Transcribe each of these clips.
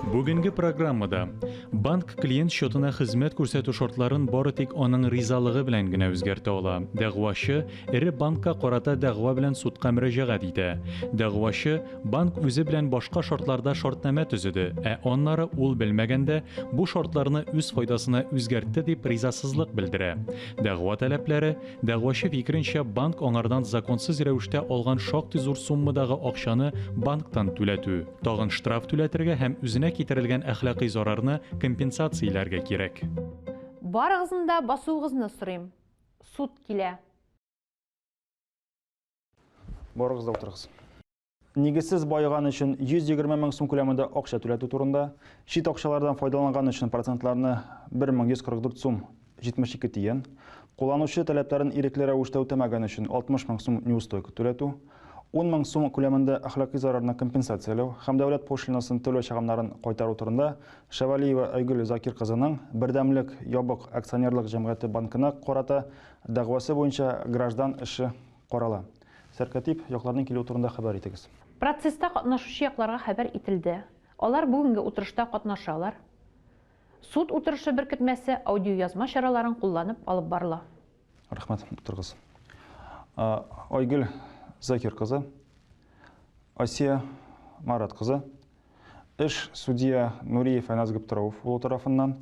Бүгенге программада банк клиент счетына хезмәт күрсәтү шартларын бары тик аның ризалыгы белән генә үзгәртә ала. Дәгъвачы эре банкка карата дәгъва белән судка мөрәҗәгать итә. Дәгъвачы банк үзе белән башка шартларда шартнамә төзеде, ә аннары ул белмәгәндә бу шартларны үз файдасына үзгәртте дип ризасызлык белдерә. Дәгъва таләпләре, дәгъвачы фикеренчә, банк аңардан законсыз рәвештә алган шактый зур суммадагы акчаны банктан түләтү, тагын штраф түләтергә һәм үзенә китерелгән әхлакый зарарны компенсацияләргә кирәк. Барыгызны да басуыгызны сорыйм. Суд килә. Барыгыз да утырыгыз. нигезсез байыган өчен 120 мең сум күләмендә акча түләтү турында, чит акчалардан файдаланган өчен процентларны 1144 сум 72 тиен, кулланучы таләпләрен ирекле рәвештә үтәмәгән өчен 60 мең сум неустойка түләтү, 10 мең сум күләмендә әхлакый зарарны компенсацияләү һәм дәүләт пошлинасын түләү чыгымнарын кайтару турында Шәвәлиева Айгөл Закир кызының Бердәмлек ябык акционерлык җәмгыяте банкына карата дәгъвасы буенча граждан эше карала. Сәркатип якларның килүе турында хәбәр итегез. Процесста катнашучы якларга хәбәр ителде. Алар бүгенге утырышта катнашалар. Суд утырышы беркетмәсе аудиоязма чараларын кулланып алып барыла. Рәхмәт. Утырыгыз. Айгөл Закир кызы, Асия Марат кызы, Эш судья Нуриев Әнәс Гыптырауф улы тарафыннан,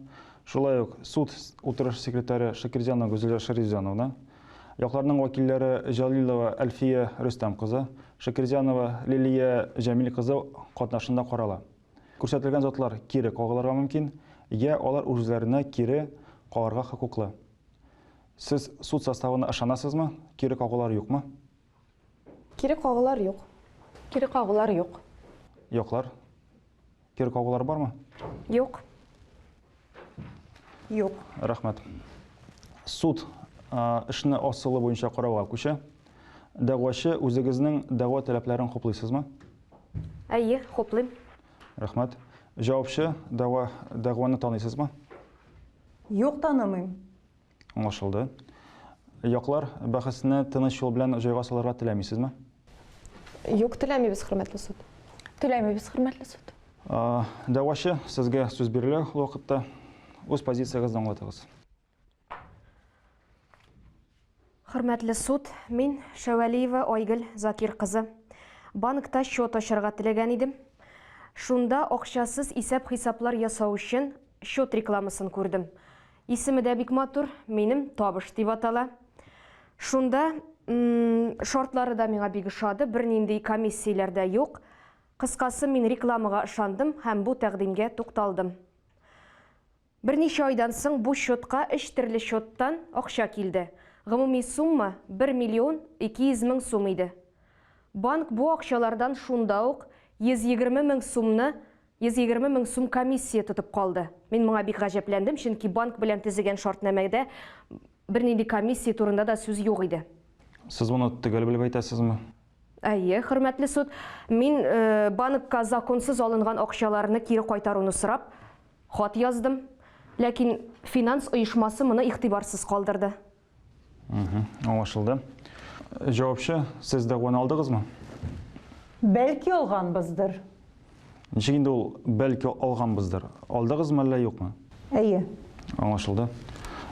шулай ук суд утырышы секретаре Шакирҗанова Гөзилә Шәрифҗановна, якларның вәкилләре Җәлилова Әлфия Рөстәм кызы, Шакирҗанова Лилия Җәмил кызы катнашында карала. Күрсәтелгән затлар кире кагылырга мөмкин, йә алар үзләренә кире кагарга хокуклы. Сез суд составына ышанасызмы, кире кагулар юкмы? Кире кагулар юк. Кире кагулар юк. Юклар. Кире кагулар бармы? Юк. Юк. Рәхмәт. Суд эшне асылы буенча карауга күчә. Дәгъвачы, үзегезнең дәгъва таләпләрен хуплыйсызмы? Әйе, хуплыйм. Рәхмәт. Җавапчы, дәгъва, дәгъваны таныйсызмы? Юк, танымыйм. Аңлашылды. Яклар бәхәсне тыныч юл белән җайга салырга теләмисезме? Юк, теләмибез, хөрмәтле суд. Теләмибез, хөрмәтле суд. Дәвачы, сезгә сүз бирелә ул вакытта. Үз позициягезне аңлатыгыз. Хөрмәтле суд, мин Шәвәлиева Айгөл Закир кызы. Банкта счет ачарга теләгән идем. Шунда акчасыз исәп-хисаплар ясау өчен счет рекламасын күрдем. Исеме дә бик матур, минем табыш дип атала. Шунда шартлары да миңа бик ошады, бернинди комиссияләр дә юк. Кыскасы, мин рекламага ышандым һәм бу тәкъдимгә тукталдым. Берничә айдан соң бу счетка өч төрле счеттан акча килде. Гомуми сумма 1 миллион 200 мең сум иде. Банк бу акчалардан шунда ук 120 мең сумны 120 мең сум комиссия тотып калды. Мин моңа бик гаҗәпләндем, чөнки банк белән төзегән шартнамәдә бернинди комиссия турында да сүз юк иде. Сез моны төгәл белеп әйтәсезме? Әйе, хөрмәтле суд. Мин банкка законсыз алынган акчаларны кире кайтаруны сорап, хат яздым. Ләкин финанс оешмасы моны игътибарсыз калдырды. Аңлашылды. Җавапчы, сез дәгъваны алдыгызмы? Бәлки алганбыздыр. Ничек инде ул бәлки алганбыздыр? Алдыгызмы әллә юкмы? Әйе. Аңлашылды.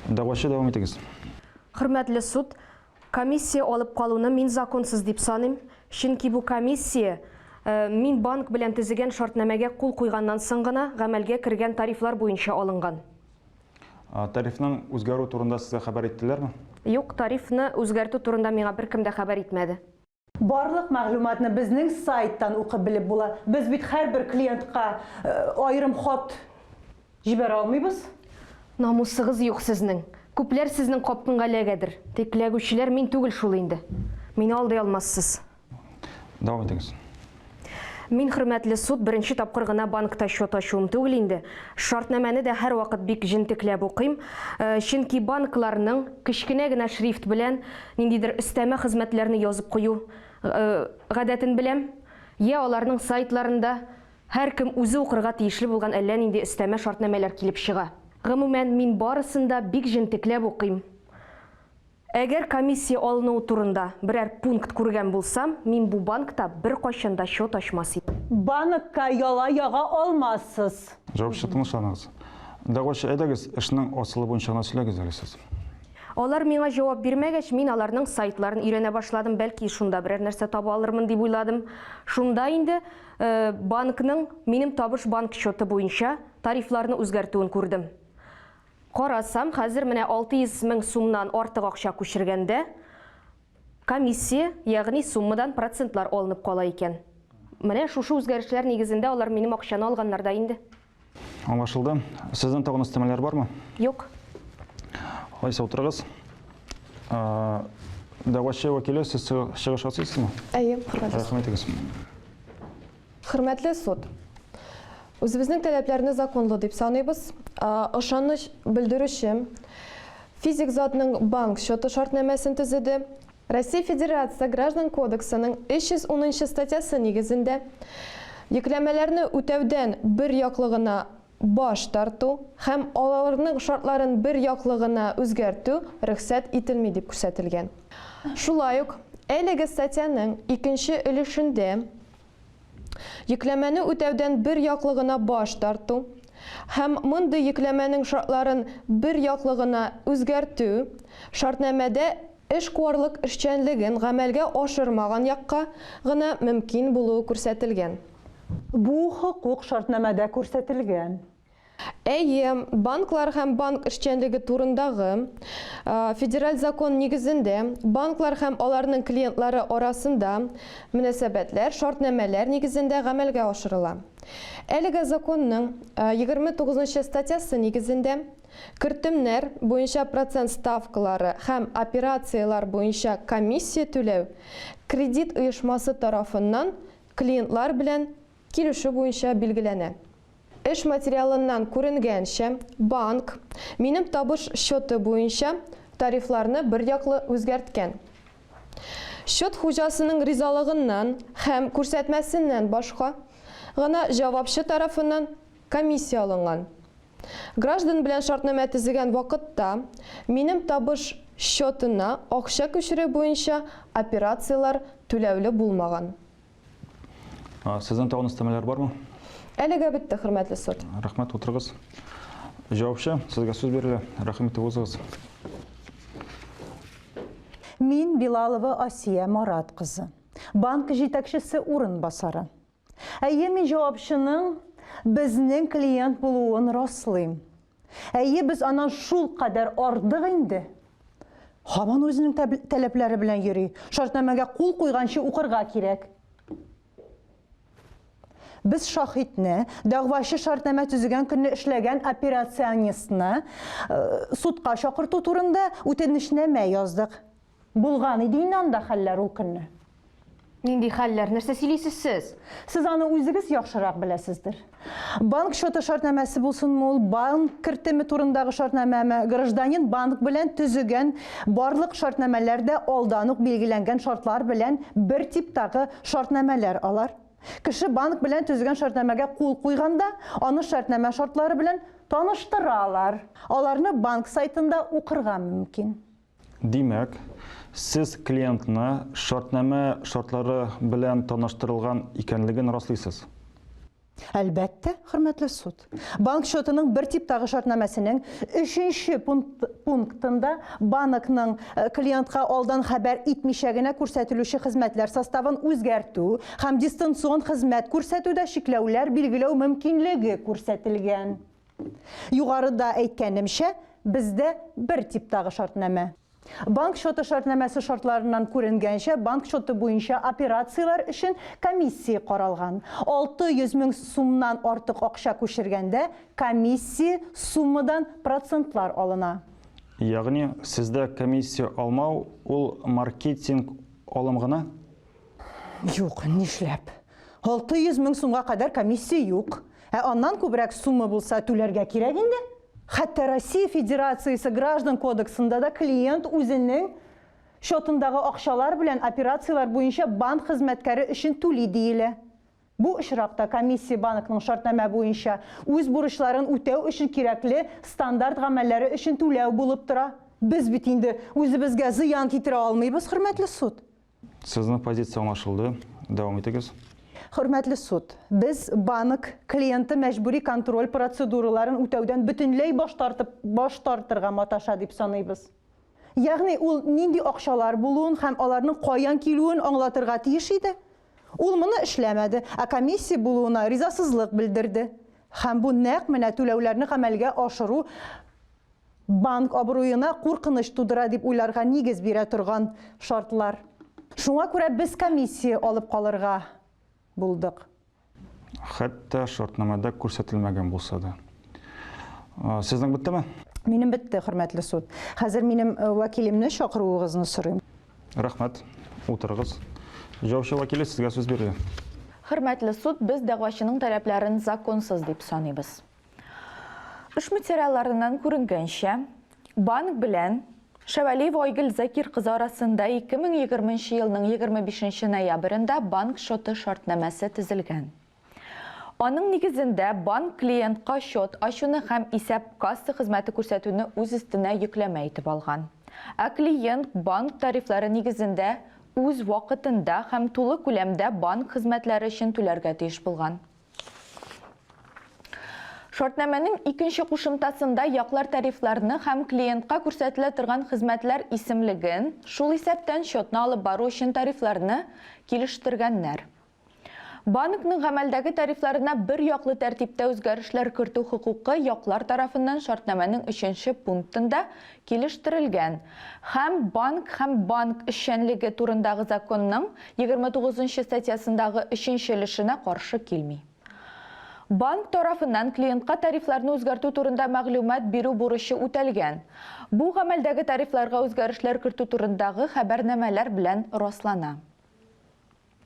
Дәгъвачы дәвам итегез. Хөрмәтле суд, комиссия алып калуны мин законсыз дип саныйм, чөнки бу комиссия э, мин банк белән төзегән шартнамәгә кул куйганнан соң гына гамәлгә кергән тарифлар буенча алынган. Тарифның үзгәрү турында сезгә хәбәр иттеләрме? Юк, тарифны үзгәртү турында миңа беркем дә хәбәр итмәде. Барлык мәгълүматны безнең сайттан укып белеп була. Без бит һәрбер клиентка аерым хат җибәрә алмыйбыз. Намусыгыз юк сезнең. Күпләр сезнең капкңга эләгәдер. Тик эләгүчеләр мин түгел шул инде. Мине алдый алмассыз. Дәвам итегез. Мин хөрмәтле суд беренче тапкыр гына банкта счет ачуым түгел инде. Шартнамәне дә һәрвакыт бик җентекләп укыйм. Э, чөнки банкларның кечкенә генә шрифт белән ниндидер өстәмә хезмәтләрне язып кую э, гадәтен беләм. Я аларның сайтларында һәркем үзе укырга тиешле булган әллә нинди өстәмә шартнамәләр килеп чыга. Гомумән, мин барысын да бик җентекләп укыйм. Әгәр комиссия алынуы турында берәр пункт күргән булсам, мин бу банкта беркайчан да счет ачмас идем. Банкка яла яга алмассыз. Җавапчы, тынычланыгыз. Дәгъвачы, әйдәгез, эшнең асылы буенча гына сөйләгез әле сез. Алар миңа җавап бирмәгәч, мин аларның сайтларын өйрәнә башладым, бәлки, шунда берәр нәрсә таба алырмын дип уйладым. Шунда инде банкның минем табыш банк счеты буенча тарифларны үзгәртүен күрдем. Карасам, хәзер менә 600 мең сумнан артык акча күчергәндә, комиссия, ягъни суммадан процентлар алынып кала икән. Менә шушы үзгәрешләр нигезендә алар минем акчаны алганнар да инде. Аңлашылды. Сезнең тагын өстәмәләр бармы? Юк. Алайса утырыгыз. Дәгъвачы вәкиле, сез чыгыш ясыйсызмы? Әйе, хөрмәт итәм. Рәхмәт итегез. Хөрмәтле суд! Үзебезнең таләпләрне законлы дип саныйбыз. Ышаныч белдерүче физик затның банк счеты шартнамәсен төзеде. Россия Федерация Граждан кодексының 310 нчы статьясы нигезендә йөкләмәләрне үтәүдән бер яклы гына баш тарту һәм алалрның шартларын бер яклы гына үзгәртү рөхсәт ителми дип күрсәтелгән. Шулай ук әлеге статьяның икенче өлешендә йөкләмәне үтәүдән бер яклы гына баш тарту һәм мондый йөкләмәнең шартларын бер яклы гына үзгәртү шартнамәдә эшкуарлык эшчәнлеген гамәлгә ашырмаган якка гына мөмкин булуы күрсәтелгән. Бу хокук шартнамәдә күрсәтелгән. Әйе, банклар һәм банк эшчәнлеге турындагы Федераль закон нигезендә банклар һәм аларның клиентлары арасында мөнәсәбәтләр шартнамәләр нигезендә гамәлгә ашырыла. Әлеге законның 29 нчы статьясы нигезендә кертемнәр буенча процент ставкалары һәм операцияләр буенча комиссия түләү кредит оешмасы тарафыннан клиентлар белән килешү буенча билгеләнә. Эш материалыннан күренгәнчә, банк минем табыш счеты буенча тарифларны берьяклы үзгәрткән. Счет хуҗасының ризалыгыннан һәм күрсәтмәсеннән башка гына җавапчы тарафыннан комиссия алынган. Граждан белән шартнамә төзегән вакытта минем табыш счетына акча күчерү буенча операцияләр түләүле булмаган. Сезнең тагын өстәмәләр бармы? Әлегә бетте, хөрмәтле суд. Рәхмәт, утырыгыз. Җавапчы, сезгә сүз бирелә. Рәхим итеп узыгыз. Мин Билалова Асия Марат кызы, банк җитәкчесе урынбасары. Әйе, мин җавапчының безнең клиент булуын раслыйм. Әйе, без аннан шул кадәр ардык инде. Һаман үзенең таләпләре белән йөри. Шартнамәгә кул куйганчы укырга кирәк. Без шахитне, дәгъвачы шартнамә төзегән көнне эшләгән операционистны э, судка чакырту турында үтенечнамә яздык. Булган иде инде анда хәлләр ул көнне. Нинди хәлләр? Нәрсә сөйлисез сез? Сез аны үзегез яхшырак беләсездер. Банк счеты шартнамәсе булсынмы ул, банк кертеме турындагы шартнамәме, гражданин банк белән төзегән барлык шартнамәләр дә алдан ук билгеләнгән шартлар белән бер типтагы шартнамәләр алар. Кеше банк белән төзегән шартнамәгә кул куйганда, аны шартнамә шартлары белән таныштыралар. Аларны банк сайтында укырга мөмкин. Димәк, сез клиентны шартнамә шартлары белән таныштырылган икәнлеген раслыйсыз? Әлбәттә, хөрмәтле суд. Банк счетының бер типтагы шартнамәсенең өченче пунктында банкның э, клиентка алдан хәбәр итмичә генә күрсәтелүче хезмәтләр составын үзгәртү һәм дистанцион хезмәт күрсәтүдә чикләүләр билгеләү мөмкинлеге күрсәтелгән. Югарыда әйткәнемчә, бездә бер типтагы шартнамә. Банк счеты шартнамәсе шартларыннан күренгәнчә, банк счеты буенча операцияләр өчен комиссия каралган. 600 мең сумнан артык акча күчергәндә, комиссия суммадан процентлар алына. Ягъни, сездә комиссия алмау, ул маркетинг алым гына? Юк, нишләп? 600 мең сумга кадәр комиссия юк. Ә аннан күбрәк сумма булса түләргә кирәк инде. Хәтта Россия Федерациясе граждан кодексында да клиент үзенең счетындагы акчалар белән операцияләр буенча банк хезмәткәре өчен түли диелә. Бу очракта комиссия банкның шартнамә буенча үз бурычларын үтәү өчен кирәкле стандарт гамәлләре өчен түләү булып тора. Без бит инде үзебезгә зыян китерә алмыйбыз, хөрмәтле суд. Сезнең позиция аңлашылды. Дәвам итегез. Хөрмәтле суд, без банк клиенты мәҗбүри контроль процедураларын үтәүдән бөтенләй баш тартып баш тартырга маташа дип саныйбыз. Ягъни ул нинди акчалар булуын һәм аларның каян килүен аңлатырга тиеш иде. Ул моны эшләмәде, ә комиссия булуына ризасызлык белдерде. Һәм бу нәкъ менә түләүләрне гамәлгә ашыру Банк абруена куркыныч тудыра дип уйларга нигез бирә торган шартлар. Шуңа күрә без комиссия алып калырга булдык. Хәтта шартнамада күрсәтелмәгән булса да. Сезнең беттеме? Минем бетте, хөрмәтле суд. Хәзер минем вәкилемне чакыруыгызны сорыйм. Рәхмәт. Утырыгыз. Җаучы вәкиле, сезгә сүз бирелә. Хөрмәтле суд, без дәгъвачының таләпләрен законсыз дип саныйбыз. Эш материалларыннан күренгәнчә, банк белән Шәвәлиева Айгөл Закир кызы арасында 2020 елның 25 ноябрендә банк счеты шартнамәсе төзелгән. Аның нигезендә банк клиентка счет ачуны һәм исәп касса хезмәте күрсәтүне үз өстенә йөкләмә итеп алган. Ә клиент банк тарифлары нигезендә үз вакытында һәм тулы күләмдә банк хезмәтләре өчен түләргә тиеш булган. Шартнамәнең икенче кушымтасында яклар тарифларны һәм клиентка күрсәтелә торган хезмәтләр исемлеген, шул исәптән счетны алып бару өчен тарифларны, килештергәннәр. Банкның гамәлдәге тарифларына бер яклы тәртиптә үзгәрешләр кертү хокукы яклар тарафыннан шартнамәнең өченче пунктында килештерелгән һәм Банк һәм банк эшчәнлеге турындагы законның 29 нчы статьясындагы өченче өлешенә каршы килми. Банк тарафыннан клиентка тарифларны үзгәртү турында мәгълүмат бирү бурычы үтәлгән. Бу гамәлдәге тарифларга үзгәрешләр кертү турындагы хәбәрнамәләр белән раслана.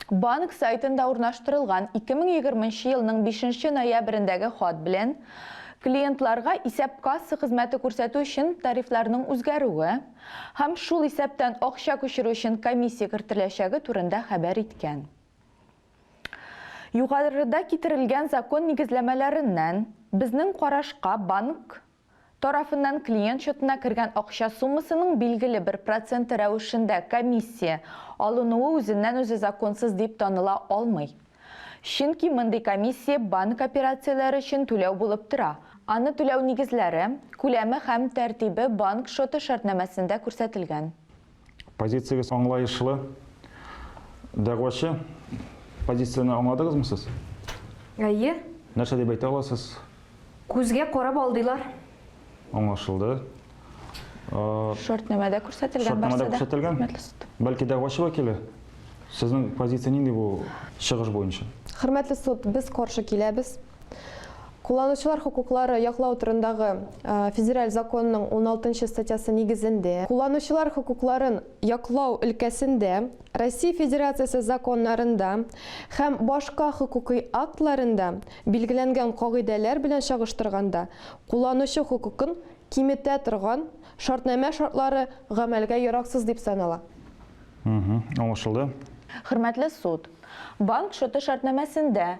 Банк сайтында урнаштырылган 2020 нче елның 5 нче ноябрендәге хат белән клиентларга исәп-касса хезмәте күрсәтү өчен тарифларның үзгәрүе һәм шул исәптән акча күчерү өчен комиссия кертеләчәге турында хәбәр иткән. Югарыда китерелгән закон нигезләмәләреннән, безнең карашка, банк тарафыннан клиент счетына кергән акча суммасының билгеле бер проценты рәвешендә комиссия алынуы үзеннән-үзе законсыз дип таныла алмый. Чөнки мондый комиссия банк операцияләре өчен түләү булып тора, аны түләү нигезләре, күләме һәм тәртибе банк счеты шартнамәсендә күрсәтелгән. Позициягез аңлаешлы. Дәгъвачы позицияне аңладыгызмы сез? Әйе. Нәрсә дип әйтә аласыз? Күзгә карап алдылар. Аңлашылды. Шартнамәдә күрсәтелгән Шартнамәдә күрсәтелгән. Бәлки дәгъвачы вәкиле? Сезнең позиция нинди бу чыгыш буенча? Хөрмәтле суд, без каршы киләбез. Кулланучылар хокуклары яклау турындагы федераль законның 16 статьясы нигезендә, кулланучылар хокукларын яклау өлкәсендә Россия Федерациясе законнарында һәм башка хокукый актларында билгеләнгән кагыйдәләр белән чагыштырганда кулланучы хокукын киметә торган шартнамә шартлары гамәлгә яраксыз дип санала. Аңлашылды. Хөрмәтле суд, банк шоты шартнамәсендә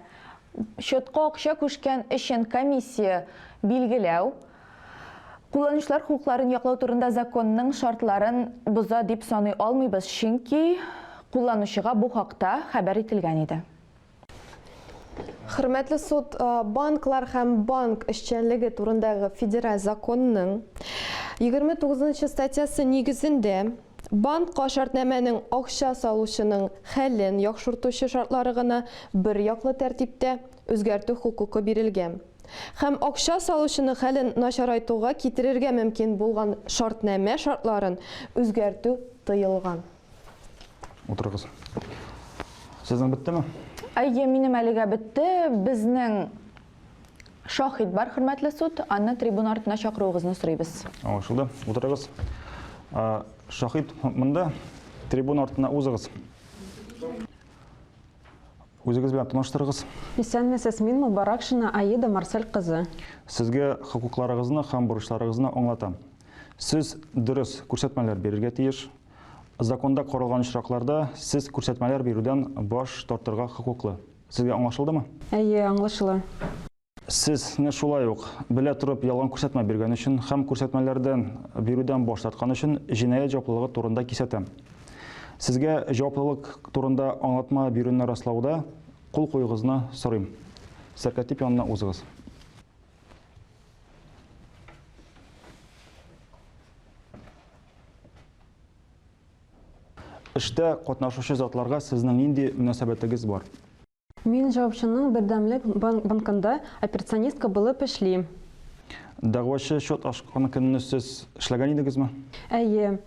счетка акча күчкән өчен комиссия билгеләү, кулланучылар хокукларын яклау турында законның шартларын боза дип саный алмыйбыз, чөнки кулланучыга бу хакта хәбәр ителгән иде. Хөрмәтле суд, банклар һәм банк эшчәнлеге турындагы федераль законның 29 нчы статьясы нигезендә, Банкка шартнамәнең акча салучының хәлен яхшыртучы шартлары гына берьяклы тәртиптә үзгәртү хокукы бирелгән һәм акча салучының хәлен начарайтуга китерергә мөмкин булган шартнамә шартларын үзгәртү тыелган. Утырыгыз. Сезнең беттеме? Әйе, минем әлегә бетте. Безнең. Шаһит бар, хөрмәтле суд, аны трибуна артына чакыруыгызны сорыйбыз. Аңлашылды. Утырыгыз. Шаһит монда, трибуна артына узыгыз. Үзегез белән таныштырыгыз. Исәнмесез, мин Мубаракшина Аида Марсель кызы. Сезгә хокукларыгызны һәм бурычларыгызны аңлатам. Сез дөрес күрсәтмәләр бирергә тиеш. Законда каралган очракларда сез күрсәтмәләр бирүдән баш тартырга хокуклы. Сезгә аңлашылдымы? Әйе, аңлашыла. Сез не шулай ук, белә торып ялган күрсәтмә биргән өчен һәм күрсәтмәләрдән бирүдән баш тарткан өчен җинаять җаваплылыгы турында кисәтәм. Сезгә җаваплылык турында аңлатма бирүне раслауда кул куюыгызны сорыйм. Сәркәтип янына узыгыз. Эштә катнашучы затларга сезнең нинди мөнәсәбәтегез бар? Мин җавапчының бердәмлек банкында операционистка булып эшлим. Дәгъвачы счет ачкан көнне сез эшләгән идегезме? Әйе,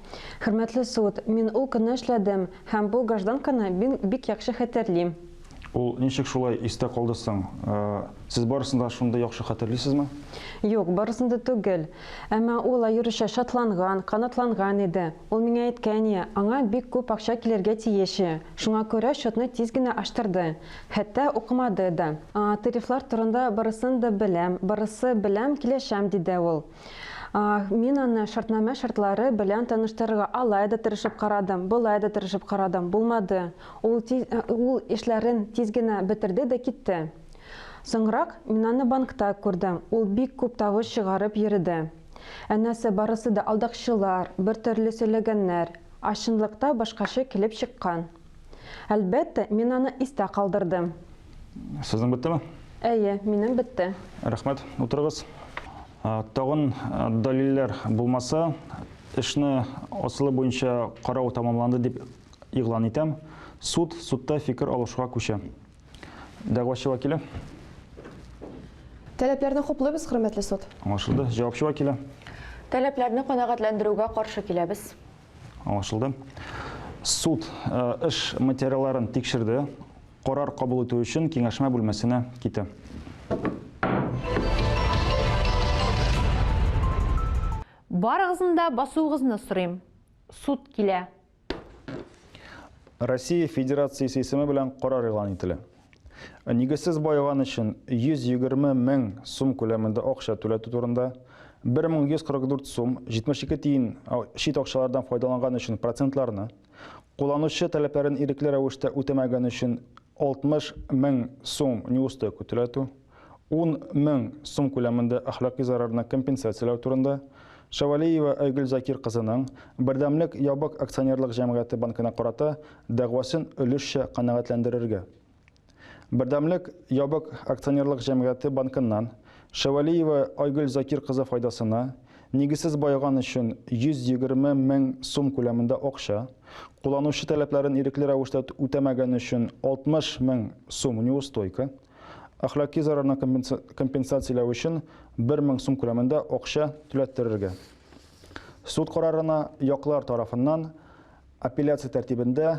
хөрмәтле суд, мин ул көнне эшләдем һәм бу гражданканы мин бик яхшы хәтерлим. Ул ничек шулай истә калды соң? Сез барысын да шундый яхшы хәтерлисезме? Юк, барысын да түгел. Әмма ул аеруча шатланган, канатланган иде. Ул миңа әйткәни, аңа бик күп акча килергә тиеш, шуңа күрә счетны тиз генә ачтырды. Хәтта укымады да. Тарифлар турында барысын да беләм, барысы беләм, килешәм, диде ул. Мин аны шартнамә шартлары белән таныштырырга алай да тырышып карадым, болай да тырышып карадым, булмады. Ул ул эшләрен тиз генә бетерде дә китте. Соңрак мин аны банкта күрдем, ул бик күп тавыш чыгарып йөрде. Әнәсе барысы да алдакчылар, бертөрле сөйләгәннәр, а чынлыкта башкача килеп чыккан. Әлбәттә, мин аны истә калдырдым. Сезнең беттеме? Әйе, минем бетте. Рәхмәт, утырыгыз. Тагын дәлилләр булмаса, эшне асылы буенча карау тәмамланды дип игълан итәм. Суд судта фикер алышуга күчә. Дәгъвачы вәкиле. Таләпләрне хуплыйбыз, хөрмәтле суд. Аңлашылды. Җавапчы вәкиле. Таләпләрне канәгатьләндерүгә каршы киләбез. Аңлашылды. Суд э, эш материалларын тикшерде. Карар кабул итү өчен киңәшмә бүлмәсенә китә. Барыгызны да басуыгызны сорыйм. Суд килә. Россия Федерациясе исеме белән карар игълан ителә. Нигезсез баеган өчен 120 мең сум күләмендә акча түләтү турында, 1144 сум 72 тиен чит акчалардан файдаланган өчен процентларны, кулланучы таләпләрен ирекле рәвештә үтәмәгән өчен 60 мең сум неустойка түләтү, ун мең сум күләмендә әхлакый зарарны компенсацияләү турында, Шәвәлиева Айгөл Закир кызының Бердәмлек ябык акционерлык җәмгыяте банкына карата дәгъвасын өлешчә канәгатьләндерергә. Бердәмлек ябык акционерлык җәмгыяте банкыннан Шәвәлиева Айгөл Закир кызы файдасына нигезсез байыган өчен 120 мең сум күләмендә акча, кулланучы таләпләрен ирекле рәвештә үтәмәгән өчен 60 мең сум неустойка, Әхлаки зарарны компенсацияләү өчен 1 мең сум күләмендә акча түләттерергә. Суд карарына яклар тарафыннан апелляция тәртибендә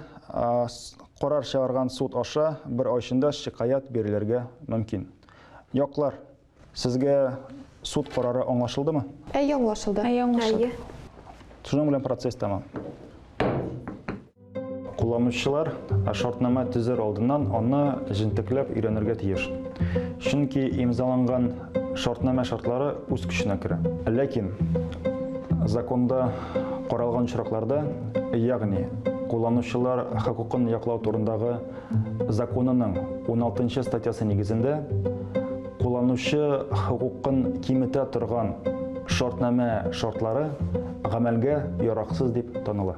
карар чыгарган суд аша бер ай эчендә шикаять бирелергә мөмкин. Яклар Сезгә суд карары аңлашылдымы? Әйе, аңлашылды. Әйе, аңлашылды. Шуның белән процесс тәмам. Кулланучылар шартнама төзер алдыннан аны җентекләп өйрәнергә тиеш. Чөнки имзаланган шартнама шартлары үз көченә керә. Ләкин законда каралган очракларда, ягъни кулланучылар хокукын яклау турындагы законының 16 статьясы нигезендә кулланучы хокукын киметә торган шартнамә шартлары гамәлгә яраксыз дип таныла.